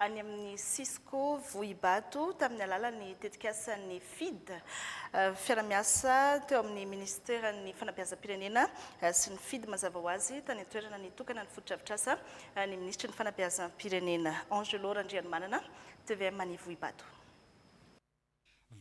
any amin'ny Cisco Vohibato tamin'ny alalan'ny tetikasan'ny FIDH, fiara-miasa teo amin'ny minisiteran'ny fanabeazam-pirenena sy ny FIDH. Mazava ho azy, tany an-toerana nitokana ny fotodrafitrasa ny minisitry ny fanabeazam-pirenena, Angelo Randrianimanana, tvm any Vohibato.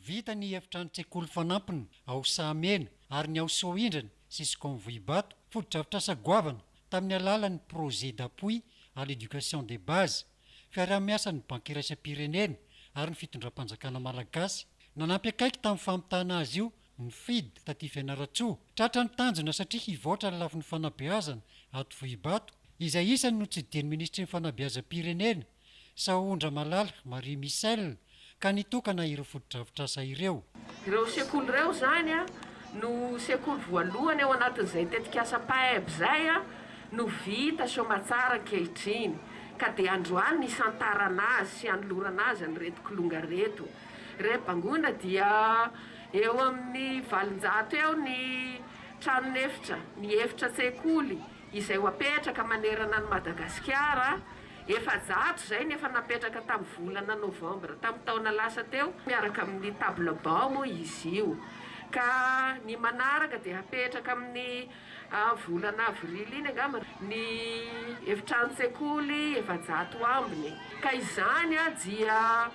Vita ny efitranon-tsekoly fanampiny ao Sahamena ary ny ao Soahindrana sy Skon Vohibato, fotodrafitrasa goavana tamin'ny alalan'ny Projet d'appui à l'éducation de base, fiaraha-miasan'ny Banky Iraisam-pirenena ary ny Fitondram-panjakana Malagasy. Nanampy akaiky tamin'ny famitana azy io ny FID taty Fianarantsoa. Tratra ny tanjona satria hivoatra ny lafiny fanabeazana ato Vohibato, izay isany notsidihiny Minisitry ny Fanabeazam-pirenena. Sahoan-dRamalala Marie Michelle ka nitokana ireo fotodrafitrasa ireo. Ireo sekoly ireo izany no sekoly voalohany ao anatin'izay tetikasa PAEB izay no vita soamatsara ankehitriny ka dia androany nisantarana azy sy hanolorana azy an'ireto kilonga reto. Reto bangoina dia eo amin'ny valonjato eo ny tranon'efitra, ny efitra an-tsekoly izay ho apetraka manerana an'i Madagasikara Efajato izay ny efa napetraka tamin'ny volana novambra tamin'ny taona lasa teo miaraka amin'ny table banc moa izy io ka ny manaraka dia hapetraka amin'ny volana avrily iny angamba ny efitranon-tsekoly efajato ambiny ka izany dia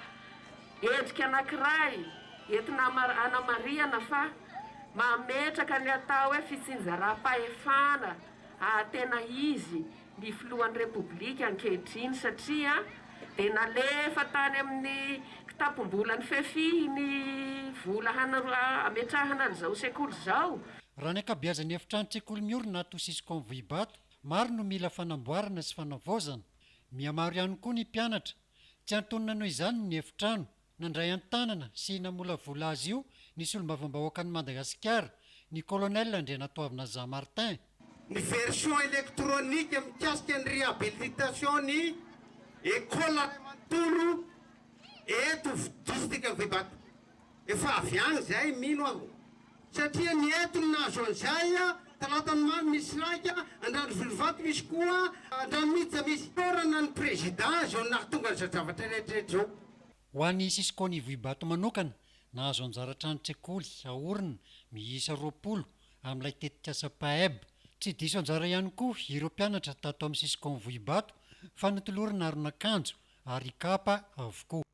endrika anankiray entina hanamarihana fa mametraka ny atao hoe fitsinjaram-pahefana tena izy ny filohan'ny Repoblika ankehitriny satria dia nalefa tany amin'ny kitapom-bolan'ny Fefi ny vola hametrahana an'izao sekoly izao. Raha ny ankabeazan'ny efitrano-tsekoly miorina ato Siscon Vohibato, maro no mila fanamboarana sy fanavaozana. Mihamaro ihany koa ny mpianatra. Tsy antonona noho izany ny efitrano. Nandray an-tanana sy namolavola azy io ny Solombavambahoakan'i Madagasikara, ny Colonel Andrianatoavina Jean Martin. Ny version électronique mikasika ny réhabilitation ny Ecole ray manontolo eto District of Ivato. Efa avy any izay, mino aho. Satria ny entiny nahazo an'izay, Talatanomamy misy laika, Andranovirovato misy koa, Andranomiditra misy. Toerana ny prezida izao nahatonga an'izao zavatra rehetra izao. Ho an'ny Cisco an'Ivo Ibato manokana, nahazo anjara trano tsekoly aorina miisa roapolo amin'ilay tetikasa PAEB. Tsy diso anjara ihany koa ireo mpianatra tato amin'ny Cisco An'Ivohibato fa notolorana aron'akanjo ary kapa avokoa.